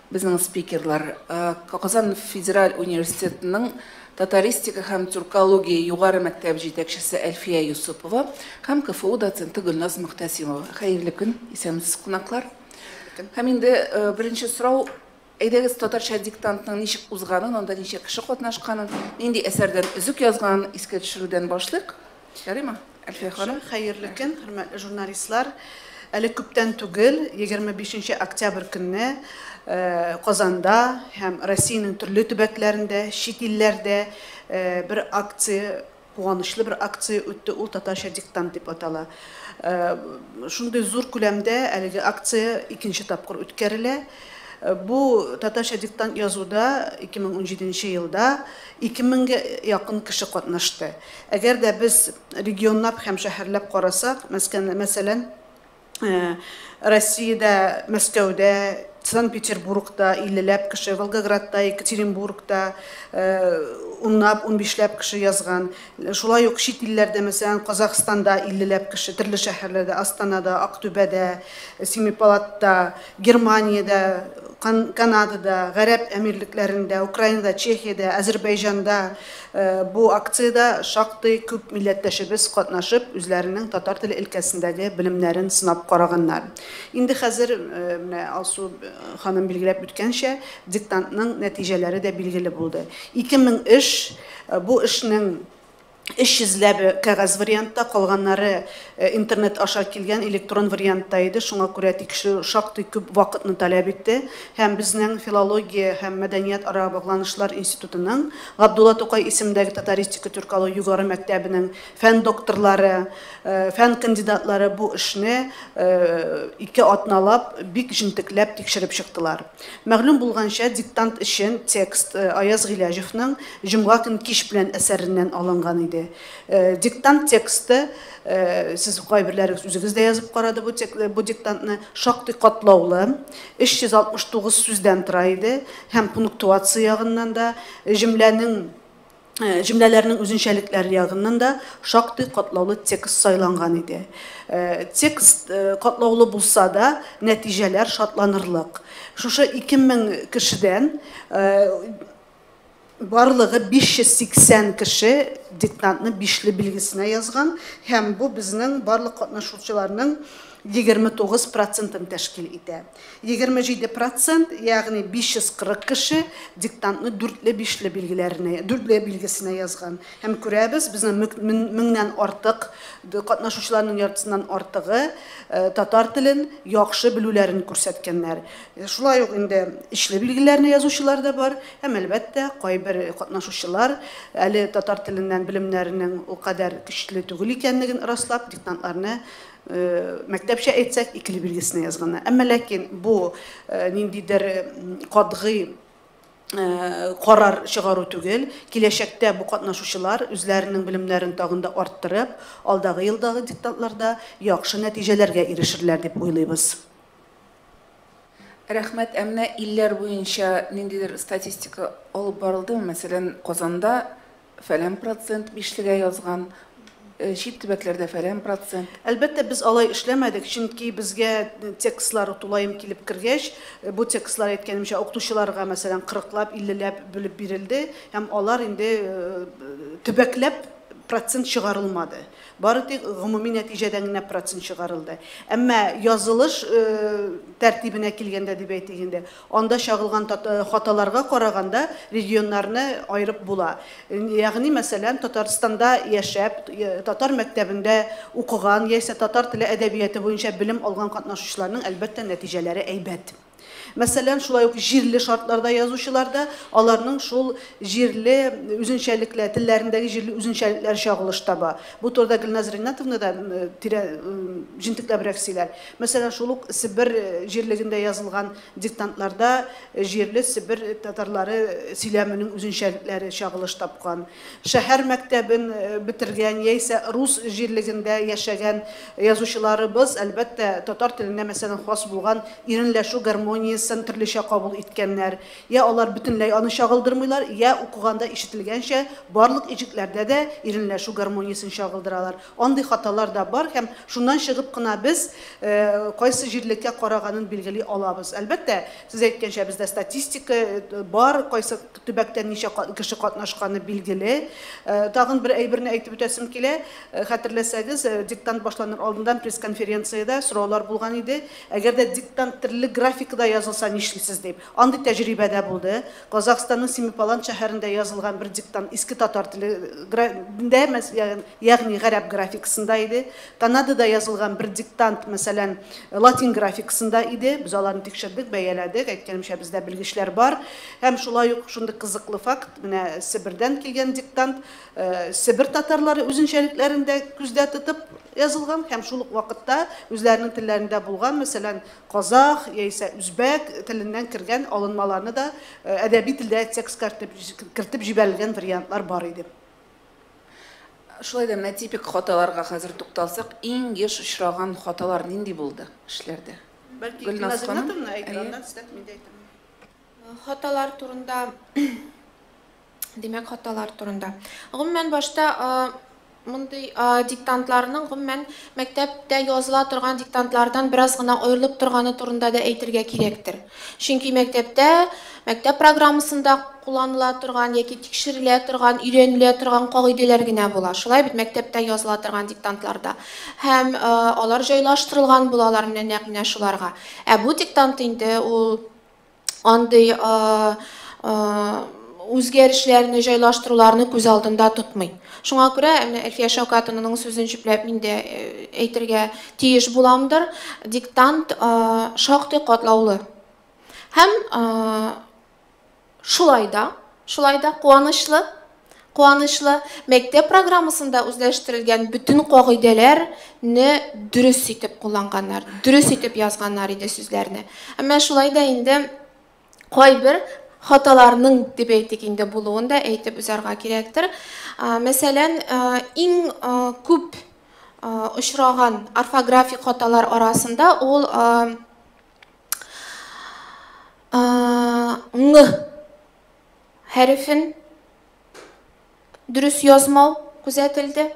Безнең спикерлар Казан федераль университетының татаристика һәм тюркология югары мәктәп җитәкчесе Әлфия Юсупова һәм КФУ доценты Гөлназ Мөхтәсимова. Хәерле көн, исәнмесез, кунаклар. Һәм инде беренче сорау, әйдәгез татарча диктантның ничек узганын, анда ничә кеше катнашканын, нинди әсәрдән өзек язганын искә төшерүдән башлыйк. Ярыймы, Әлфия ханым? Хәерле көн, хөрмәтле журналистлар. Әле күптән түгел, 25 октябрь көнне э, Казанда һәм Россиянең төрле төбәкләрендә, чит илләрдә э, бер акция куанычлы бер акция үтте, ул татарча диктант дип атала. Э, шундый зур күләмдә әлеге акция икенче тапкыр үткәрелә. Э, бу татарча диктант язуда 2017 елда 2000 гә якын кеше катнашты. Әгәр дә без регионнап һәм шәһәрләп карасак, мәскән, мәсәлән, Россиядә, Мәскәүдә, Санкт-Петербургта иллеләп кеше, Волгоградта, Екатеринбургта унлап, унбишләп кеше язган. Шулай ук чит илләрдә, мәсәлән, Казахстанда иллеләп кеше, төрле шәһәрләрдә, Астанада, Актүбәдә, Семипалатта, Германиядә, Кан, Канадада, Гарәп Әмирлекләрендә, Украинада, Чехиядә, Азербайҗанда, Бу акциядә шактый күп милләттәшебез катнашып, үзләренең татар теле өлкәсендәге белемнәрен сынап караганнар. Инде хәзер, менә Алсу ханым билгеләп үткәнчә, диктантның нәтиҗәләре дә билгеле булды. Ике мең эш, бу эшнең 300 ләбе кәгазь вариантта, калганнары интернет аша килгән электрон вариантта иде, шуңа күрә тикшерү шактый күп вакытны таләп итте һәм безнең филология һәм мәдәният-ара багланышлар институтының Габдулла Тукай исемендәге Татаристика Тюркалау югары мәктәбенең фән докторлары, фән кандидатлары бу эшне ике атналап бик җентекләп тикшереп чыктылар. Мәгълүм булганча, диктант өчен текст Аяз Гыйләҗевның Җомга көн кич белән әсәреннән алынган иде. Диктант тексты, сез кайберләрегез үзегез дә язып карады бу диктантны, шактый катлаулы, 369 сүздән тора иде. һәм пунктуация ягыннан да, җөмләнең, җөмләләрнең үзенчәлекләре ягыннан да шактый катлаулы текст сайланган иде. Текст катлаулы булса да, нәтиҗәләр шатланырлык. Шушы 2000 кешедән барлыгы 580 кеше диктантны бишле билгесенә язган һәм бу безнең барлык катнашучыларның 29 процентын тәшкил итә. Егерме җиде процент, ягъни 540 кеше диктантны дүртле-бишле билгеләренә, дүртле билгесенә язган. Һәм күрәбез, безнең мөк- мен- меңнән артык д- катнашучыларның яртысыннан артыгы э, татар телен яхшы белүләрен күрсәткәннәр. Э, Шулай ук инде ичле билгеләрне язучылар да бар, һәм, әлбәттә, кайбер катнашучылар әле татар теленнән белемнәренең ул кадәр көчле түгел икәнлеген раслап, диктантларны мәктәпчә әйтсәк, икеле билгесенә язганнар. Әмма ләкин бу ниндидер катгый карар чыгару түгел. Киләчәктә бу катнашучылар үзләренең белемнәрен тагын да арттырып, алдагы елдагы диктантларда яхшы нәтиҗәләргә ирешерләр дип уйлыйбыз. Рәхмәт. Ә менә илләр буенча ниндидер статистика алып барылдымы? Мәсәлән, Казанда фәлән процент бишлегә язган, чит төбәкләрдә фәлән процент. Әлбәттә, без алай эшләмәдек, чөнки безгә текстлар тулаем килеп кергәч, бу текстлар әйткәнемчә укытучыларга, мәсәлән, 40-лап, 50-ләп бүлеп бирелде, һәм алар инде төбәкләп процент чыгарылмады. Бары тик гомуми нәтиҗәдән генә процент чыгарылды. Әмма язылыш тәртибенә килгәндә дип әйтик инде, Анда чагылган хаталарга караганда регионнарны аерып була. Ягъни, мәсәлән, Татарстанда яшәп, татар мәктәбендә укыган яисә татар теле әдәбияты буенча белем алган катнашучыларның, әлбәттә, нәтиҗәләре әйбәт. Мәсәлән, шулай ук җирле шартларда язучылар да, аларның шул җирле үзенчәлекләр, телләрендәге җирле үзенчәлекләр чагылыш таба. Бу турыда Гөлназ Риннәтовна да тирә, җентекләбрәк сөйләр. Мәсәлән, шул ук Себер җирлегендә язылган диктантларда җирле Себер татарлары сөйләменең үзенчәлекләре чагылыш тапкан. Шәһәр мәктәбен бетергән яисә рус җирлегендә яшәгән язучыларыбыз, әлбәттә, татар теленә, мәсәлән, хас булган иренләшү гармониясен төрлечә кабул иткәннәр. Йә алар бөтенләй аны чагылдырмыйлар, йә, укыганда ишетелгәнчә, барлык иҗекләрдә дә иренләшү гармониясен чагылдыралар. Андый хаталар да бар һәм шуннан чыгып кына без кайсы җирлеккә караганын билгели алабыз. Әлбәттә, сез әйткәнчә, бездә статистика бар, кайсы төбәктә ничә кеше катнашканы билгеле. Тагын бер әйберне әйтеп үтәсем килә. Хәтерләсәгез, диктант башланыр алдыннан пресс-конференциядә сораулар булган иде, әгәр дә диктант төрле графикада язылса нишлисез дип. Андый тәҗрибә дә булды. Казахстанның Семипалант шәһәрендә язылган бер диктант иске татар теле графикасында, Ягъни гарәп графикасында иде. Канадада язылган бер диктант, мәсәлән, латин графикасында иде. Без аларны тикшердек, бәяләдек. Әйткәнемчә, бездә белгечләр бар. Һәм шулай ук шундый кызыклы факт, менә Себердән килгән диктант, Себер татарлары үзенчәлекләрен дә күздә тотып язылган һәм шул ук вакытта үзләренең телләрендә булган, мәсәлән, казах яисә үзбәк теленнән кергән алынмаларны да әдәби телдә текстка кертеп җибәрелгән вариантлар бар иде. Шулай да менә типик хаталарга хәзер тукталсак, иң еш очраган хаталар нинди булды эшләрдә? Бәлки Гөлназ ханым, әйе. Хаталар турында димәк хаталар турында. Гомумән башта мондый диктантларның гомумән мәктәптә языла торган диктантлардан бераз гына аерылып торганы турында да әйтергә кирәктер. Чөнки мәктәптә, мәктәп программасында кулланыла торган яки тикшерелә торган, өйрәнелә торган кагыйдәләр генә була. Шулай бит, мәктәптә языла торган диктантларда. Һәм э, алар җайлаштырылган булалар менә нәкъ менә шуларга. Ә бу диктант инде ул андый э, э, үзгәрешләрне, җайлаштыруларны күз алдында тотмый. Шуңа күрә менә Әлфия Шәүкәтовнаның сүзен җөпләп мин дә э, әйтергә тиеш буламдыр. Диктант э, шактый катлаулы. Һәм э, шулай да, шулай да куанычлы, куанычлы мәктәп программасында үзләштерелгән бөтен кагыйдәләрне дөрес итеп кулланганнар, дөрес итеп язганнар иде сүзләрне. Әмма шулай да инде кайбер хаталарның дип әйтик инде булуын да әйтеп узарга кирәктер. Мәсәлән, иң күп очраган орфографик хаталар арасында ул ң хәрефен дөрес язмау күзәтелде.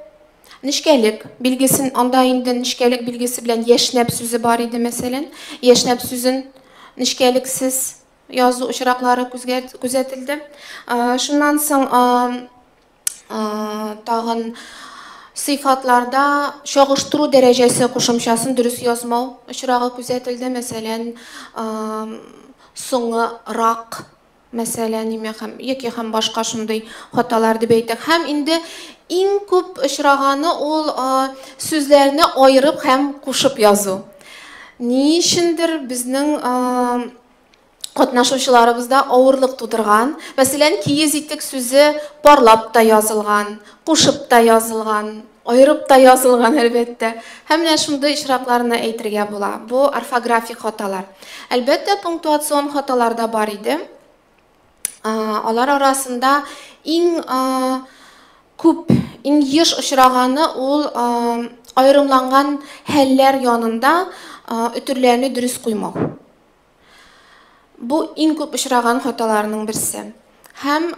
Нечкәлек билгесен, анда инде нечкәлек билгесе белән яшьнәп сүзе бар иде, мәсәлән. Яшьнәп сүзен нечкәлексез язу очраклары күзәтелде. Шуннан соң тагын сыйфатларда чагыштыру дәрәҗәсе кушымчасын дөрес язмау очрагы күзәтелде. Мәсәлән, соңы рак мәсәлән, имя һәм, яки һәм башка шундый хаталар дип әйтик. Һәм инде иң күп очраганы ул сүзләрне аерып һәм кушып язу. Ни өчендер безнең катнашучыларыбызда авырлык тудырган. Мәсәлән, киез итек сүзе парлап та язылган, кушып та язылган. Аерып та язылган, әлбәттә. Һәм менә шундый очракларны әйтергә була. Бу, орфографик хаталар. Әлбәттә, пунктуацион хаталар да бар иде. Алар арасында иң күп, иң еш очраганы ул аерымланган хәлләр янында өтерләрне дөрес куймау. Бу иң күп очраган хаталарның берсе. Һәм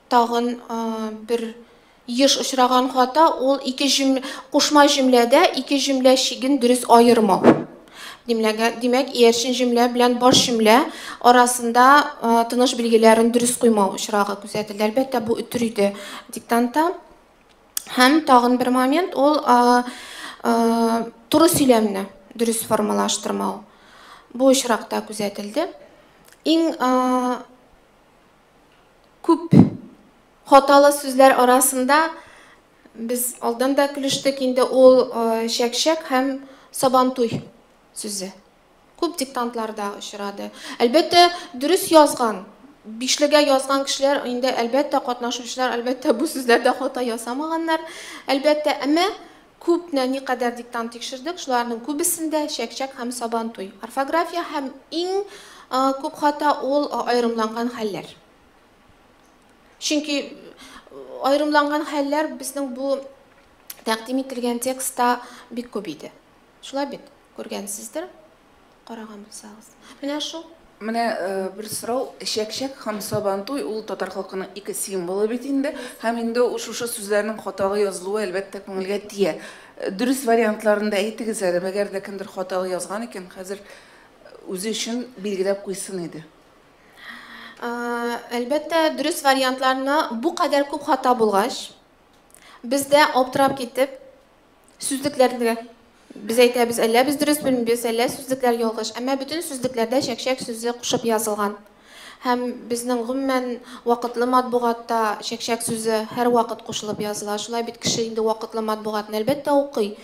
тагын бер еш очраган хата ул ике җөм кушма җөмләдә ике җөмлә чиген дөрес аермау. Димләгә, димәк, иярчен җөмлә белән баш җөмлә арасында тыныш билгеләрен дөрес куймау очрагы күзәтелде. Әлбәттә, бу үтер иде диктантта. Һәм тагын бер момент ул туры сөйләмне дөрес формалаштырмау. Бу очракта күзәтелде. Иң күп хаталы сүзләр арасында без алдан да көлештек инде ул чәкчәк һәм сабантуй сүзе. Күп диктантларда очрады. Әлбәттә, дөрес язган, бишлегә язган кешеләр инде әлбәттә катнашучылар, әлбәттә бу сүзләрдә хата ясамаганнар, әлбәттә, әмма Күп нә никадәр диктант тикшердек, шуларның күбесендә чәк-чәк һәм сабантуй. Орфография һәм иң күп хата ул аерымланган хәлләр. Чөнки аерымланган хәлләр безнең бу тәкъдим ителгән текстта бик күп иде. Шулай бит, күргәнсездер. караган булсагыз. Менә шул. Менә бер сорау, чәкчәк һәм сабантуй ул татар халкының ике символы бит инде, һәм инде шушы сүзләрнең хаталы язылуы әлбәттә күңелгә тия. Дөрес вариантларын да әйтегез әле, мәгәр дә кемдер хаталы язган икән, хәзер үзе өчен билгеләп куйсын иде. Әлбәттә, дөрес вариантларны бу кадәр күп хата булгач, без дә аптырап китеп, Сүзлекләрдә без әйтәбез, әллә без дөрес белмибез, әллә сүзлекләр ялгыш. Әмма бөтен сүзлекләрдә чәкчәк сүзе кушып язылган. Һәм безнең гомумән вакытлы матбугатта чәкчәк сүзе һәрвакыт кушылып языла. Шулай бит кеше инде вакытлы матбугатны әлбәттә укый.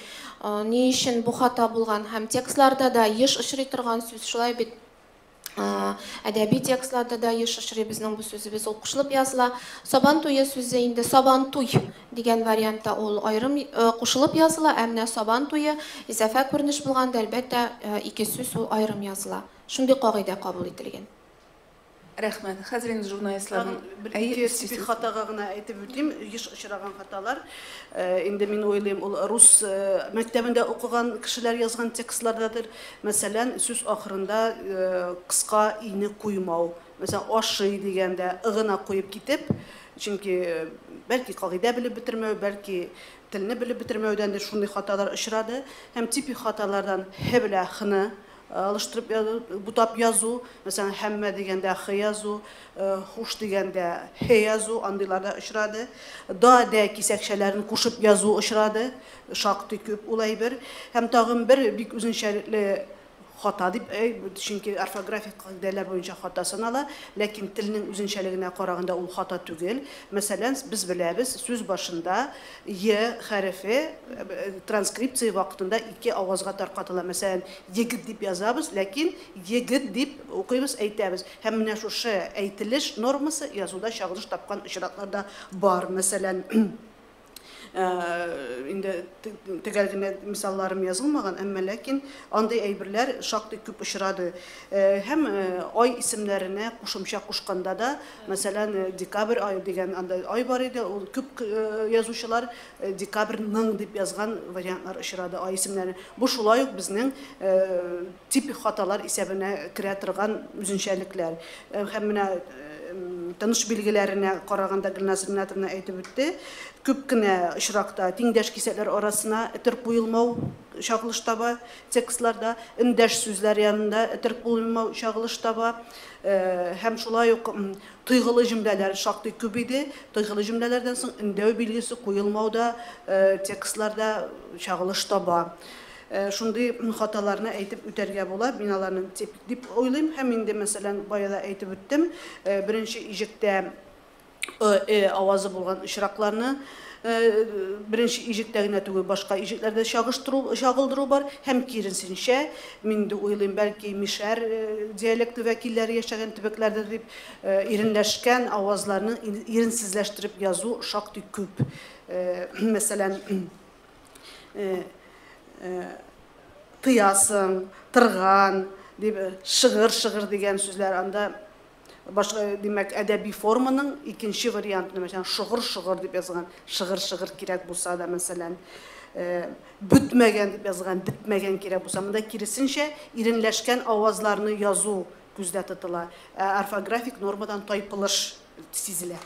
Ни өчен бу хата булган? Һәм текстларда да еш очрый торган сүз шулай бит. әдәби текстларда да еш очрый безнең бу сүзебез ул кушылып языла сабан туе сүзе инде сабан туй дигән вариантта ул аерым кушылып языла ә менә сабан туе изәфә күренеш булганда әлбәттә ике сүз ул аерым языла шундый кагыйдә кабул ителгән Рәхмәт. Хәзер инде журналистларның әйе сизде. Хатага гына әйтеп үтим, еш очраган хаталар. Инде мин уйлыйм, ул рус мәктәбендә укыган кешеләр язган текстлардадыр. Мәсәлән, сүз ахырында кыска ине куймау. Мәсәлән, ашый дигәндә ы гына куеп китеп, чөнки бәлки кагыйдә белеп бетермәү, бәлки телне белеп бетермәүдәндер, шундый хаталар очрады. Һәм типик хаталардан һе белә хны алыштырып язу, бутап язу, мәсәлән, һәммә дигәндә хы язу, хуш дигәндә һе язу, андыйлар да очрады. Да, дә кисәкчәләрен кушып язу очрады. Шактый күп ул әйбер. Һәм тагын бер бик үзенчәлекле хата дип, чөнки орфографик кагыйдәләр буенча хата санала, ләкин телнең үзенчәлегенә караганда ул хата түгел. Мәсәлән, без беләбез, сүз башында е хәрефе транскрипция вакытында ике авазга таркатыла. Мәсәлән, егет дип язабыз, ләкин егет дип укыйбыз, әйтәбез. Һәм менә шушы әйтелеш нормасы язуда чагылыш тапкан очраклар да бар. Мәсәлән, инде төгәл генә мисалларым язылмаган, әмма ләкин андый әйберләр шактый күп очрады. Һәм ай исемнәренә кушымча кушканда да, мәсәлән, декабрь ай дигән анда ай бар иде, ул күп язучылар декабрьның дип язган вариантлар очрады ай исемнәренә. Бу шулай ук безнең Типик хаталар исәбенә керә торган үзенчәлекләр һәм менә тыныш билгеләренә караганда Гөлназ Ринатовна әйтеп үтте, күп кенә очракта тиңдәш кисәкләр арасына этер куелмау чагылыш таба, текстларда эндәш сүзләр янында этер куелмау чагылыш таба һәм шулай ук тойгылы җөмләләр шактый күп иде, тойгылы җөмләләрдән соң өндәү билгесе куелмау да текстларда чагылыш таба. Шундый хаталарны әйтеп үтәргә була, мин аларны тип дип уйлыйм һәм инде, мәсәлән, бая да әйтеп үттем, беренче иҗектә ы, э авазы булган очракларны беренче иҗектә генә түгел, башка иҗекләрдә чагыштыру, чагылдыру бар һәм киресенчә, мин инде уйлыйм, бәлки мишәр диалекты вәкилләре яшәгән төбәкләрдә дип иренләшкән авазларны иренсезләштереп язу шактый күп. Мәсәлән, э, э, тыясың, тырган, дип э, шыгыр шыгыр дигән сүзләр анда башка э, димәк әдәби форманың икенче вариантын мәсәлән шыгыр шыгыр дип язган шыгыр шыгыр кирәк булса да мәсәлән э, бөтмәгән дип язган бетмәгән кирәк булса монда киресенчә иренләшкән авазларны язу күздә тотыла орфографик нормадан тайпылыш сизелә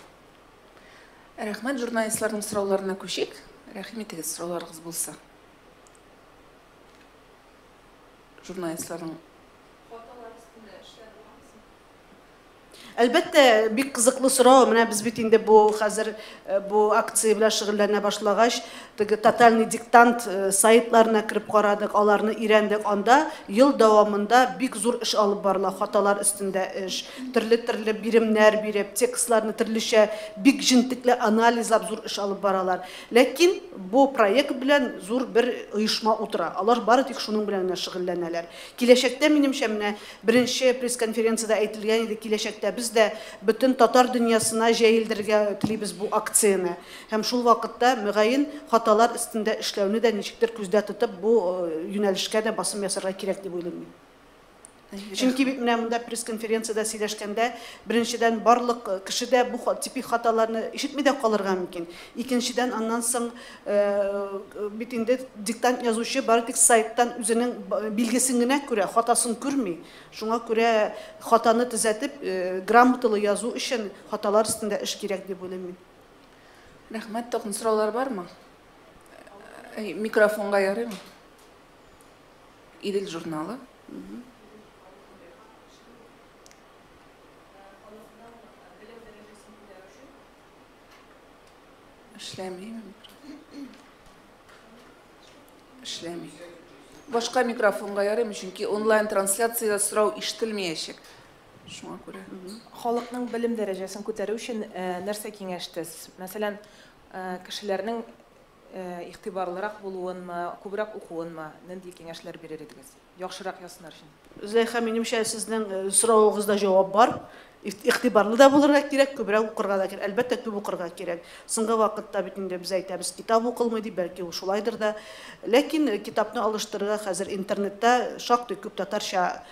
Рәхмәт журналистларның сорауларына күчик. Рәхим итегез, сорауларыгыз булса. Журналистларның Әлбәттә, бик кызыклы сорау. Менә без бит инде бу хәзер э, бу акция белән шөгыльләнә башлагач, Теге Тотальный диктант сайтларына кереп карадык, аларны өйрәндек. Анда ел дәвамында бик зур эш алып барыла, хаталар өстендә эш. Төрле-төрле биремнәр биреп, текстларны төрлечә, бик җентекле анализлап зур эш алып баралар. Ләкин бу проект белән зур бер оешма утыра. Алар бары тик шуның белән генә шөгыльләнәләр. Киләчәктә, минемчә, менә беренче пресс-конференциядә әйтелгән иде, киләчәктә без дә бөтен татар дөньясына җәелдерергә телибез бу акцияне. Һәм шул вакытта, мөгаен, хаталар өстендә эшләүне дә ничектер күздә тотып, бу юнәлешкә дә басым ясарга кирәк дип уйлыйм мин. Чөнки бит менә монда пресс-конференциядә сөйләшкәндә, беренчедән, барлык кеше дә бу типик хаталарны ишетми дә калырга мөмкин. Икенчедән, аннан соң бит инде диктант язучы бары тик сайттан үзенең билгесен генә күрә, хатасын күрми. Шуңа күрә хатаны төзәтеп, грамоталы язу өчен хаталар өстендә эш кирәк дип уйлыйм мин. Рәхмәт, тагын сораулар бармы? Э, микрофонга ярыймы? Идел журналы. Эшләмиме? Эшләми. Башка микрофонга ярыймы, чөнки онлайн трансляцияда сорау ишетелмәячәк. Шуңа күрә. Халыкның белем дәрәҗәсен күтәрү өчен нәрсә киңәштез? Мәсәлән, кешеләрнең игътибарлырак булуынмы, күбрәк укуынмы? Нинди киңәшләр бирер идегез? Яхшырак язсыннар өчен. Зөләйха, минемчә, сезнең соравыгызда җавап бар. Игътибарлы да булырга кирәк, күбрәк укырга да кирәк. Әлбәттә, күп укырга кирәк. Соңгы вакытта бит инде без әйтәбез, китап укылмый дип, бәлки ул шулайдыр да. Ләкин китапны алыштырырга хәзер интернетта шактый күп татарча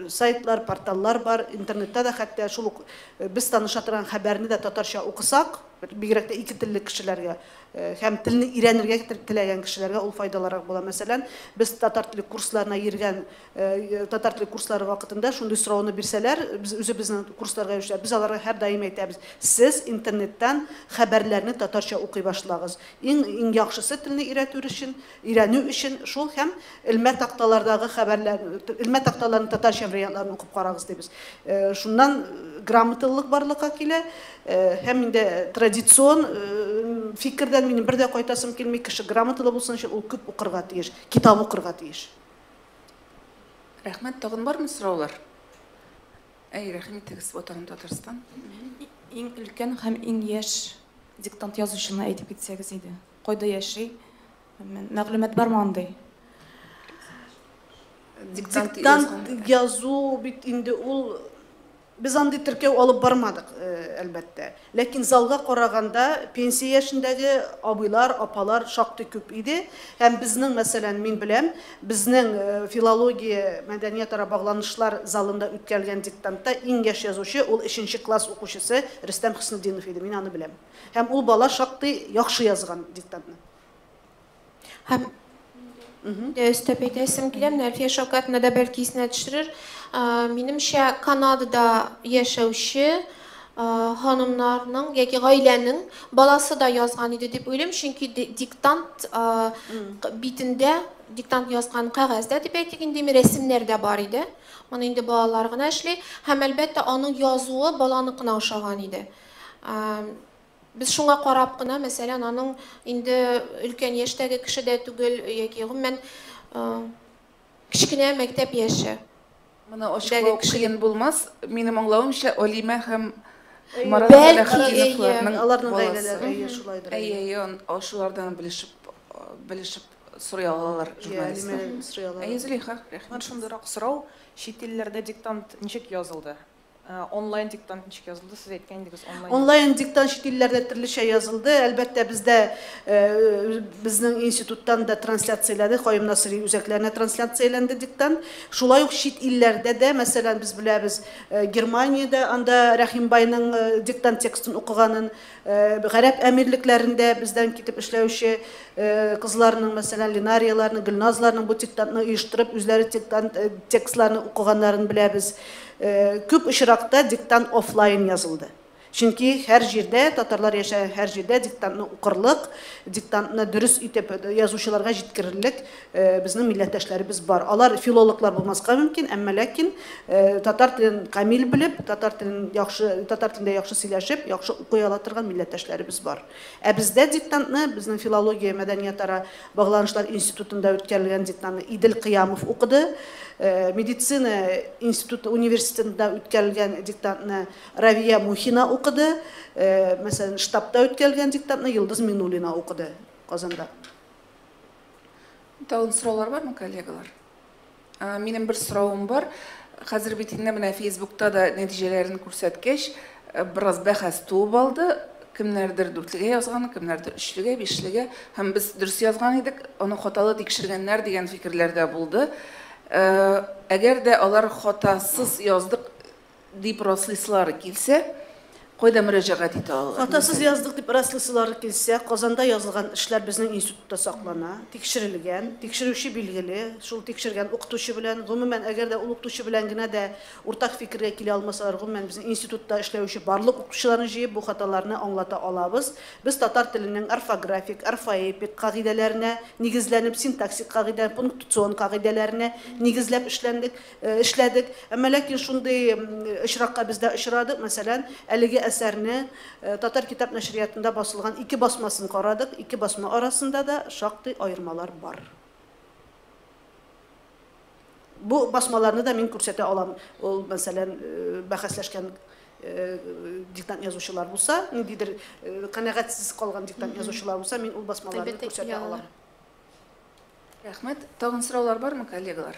сайтлар, порталлар бар, интернетта да хәтта шул ук без таныша торган хәбәрне дә татарча укысак, бигрәк тә ике телле кешеләргә һәм телне өйрәнергә теләгән кешеләргә ул файдалырак була. Мәсәлән, без татар теле курсларына йөргән, татар теле курслары вакытында шундый сорауны бирсәләр, без үзебезнең курсларга йөрүчеләр, без аларга һәрдаим әйтәбез, сез интернеттан хәбәрләрне татарча укый башлагыз. Иң яхшысы телне өйрәтү өчен, өйрәнү өчен шул һәм элмә такталардагы хәбәрләр, элмә такталарның татарча вариантларын укып карагыз дибез. Шуннан грамоталылык барлыкка килә һәм инде традицион фикердән минем бер дә кайтасым килми, кеше грамоталы булсын өчен ул күп укырга тиеш, китап укырга тиеш. Рәхмәт, тагын бармы сораулар? Әй, рәхим итегез, Ватаным Татарстан. Иң өлкән һәм иң яшь диктант язучыны әйтеп китсәгез иде. Кайда яши? Мәгълүмат бармы андый? Диктант язу бит инде ул без андый теркәү алып бармадык, әлбәттә. Ләкин залга караганда пенсия яшендәге абыйлар, апалар шактый күп иде. Һәм безнең, мәсәлән, мин беләм, безнең филология, мәдәниятара багланышлар залында үткәрелгән диктантта иң яшь язучы ул өченче класс укучысы Рөстәм Хөснетдинов иде, мин аны беләм. Һәм ул бала шактый яхшы язган диктантны. Һәм Э, өстәп әйтәсем килә менә әлфия шәүкәтовна да бәлки исенә төшерер минемчә канадада яшәүче ханымнарның яки гаиләнең баласы да язган иде дип уйлыйм чөнки диктант битендә диктант язган кәгазьдә дип әйтик инде рәсемнәр дә бар иде моны инде балалар гына эшли һәм әлбәттә аның язуы баланыкына ошаган иде Без шуңа карап кына, мәсәлән, аның инде өлкән яшьтәге кеше дә түгел, яки гомумән кечкенә мәктәп яше. Моны ачыклау кыен булмас. Минем аңлавымча, Алимә һәм Марат Сәләхетдиновларның баласы. Әйе, шулайдыр. Әйе, әйе, аны шулардан белешеп, белешеп сорый алалар журналистлар. Әйе, Алимәдән сорый алалар. Әйе, Зөләйха, рәхмәт. Шундыйрак сорау, чит илләрдә диктант ничек язылды? Онлайн диктант ничек язылды? Сез әйткән идегез, онлайн. Онлайн диктант чит илләрдә төрлечә язылды. Әлбәттә, бездә э, безнең институттан да трансляцияләде, Каюм Насыйри үзәкләренә трансляцияләнде диктант. Шулай ук чит илләрдә дә, мәсәлән, без беләбез, э, Германиядә анда Рәхимбайның э, диктант текстын укыганын, Гарәп әмирлекләрендә бездән китеп эшләүче кызларның, мәсәлән, Линарияләрнең, Гөлназларның бу диктантны оештырып, үзләре диктант текстларны укыганнарын беләбез. Күп очракта диктант офлайн язылды. Чөнки һәр җирдә, татарлар яшәгән һәр җирдә диктантны укырлык, диктантны дөрес итеп язучыларга җиткерерлек Безнең милләттәшләребез бар. Алар филологлар булмаска мөмкин, әмма ләкин татар телен камил белеп, татар телен яхшы, татар телендә яхшы сөйләшеп, яхшы укый ала торган милләттәшләребез бар. Ә бездә диктантны безнең филология, мәдәниятара багланышлар институтында үткәрелгән диктантны Идел Кыямов укыды. Медицина институты, университетында үткәрелгән диктантны Равия Мухина укыды. Мәсәлән, штабта үткәрелгән диктантны Йолдыз Минуллина укыды Казанда. Тагын сораулар бармы, коллегалар? Минем бер соравым бар. Хәзер бит инде менә Фейсбукта да нәтиҗәләрен күрсәткәч, бераз бәхәс туып алды. Кемнәрдер дүртлегә язган, кемнәрдер өчлегә, бишлегә. Һәм без дөрес язган идек, аны хаталы тикшергәннәр дигән фикерләр дә булды. Әгәр дә алар хатасыз яздык Дип раслыйсылары килсә, кайда мөрәҗәгать итә алалар? Хатасыз яздык дип раслыйсылары килсә, Казанда язылган эшләр безнең институтта саклана, тикшерелгән, тикшерүче билгеле, шул тикшергән укытучы белән, гомумән, әгәр дә ул укытучы белән генә дә уртак фикергә килә алмасалар, гомумән, безнең институтта эшләүче барлык укытучыларны җыеп, бу хаталарны аңлата алабыз. Без татар теленең орфографик, орфоэпик кагыйдәләренә нигезләнеп, синтаксик кагыйдә, пунктуцион кагыйдәләренә нигезләп эшләндек. Эшләдек. Әмма ләкин шундый очракка без дә очрадык, мәсәлән, әлеге әсәрне Татар китап нәшриятында басылган ике басмасын карадык, ике басма арасында да шактый аермалар бар. Бу басмаларны да мин күрсәтә алам, ул, мәсәлән, бәхәсләшкән диктант язучылар булса, ниндидер канәгатьсез калган диктант язучылар булса, мин ул басмаларны күрсәтә алам. Рәхмәт. Тагын сораулар бармы, коллегалар?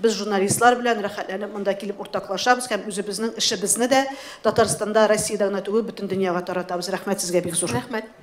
Без журналистлар белән рәхәтләнеп монда килеп уртаклашабыз һәм үзебезнең эшебезне дә Татарстанда, Россиядә генә түгел, бөтен дөньяга таратабыз. Рәхмәт сезгә бик зур. Рәхмәт.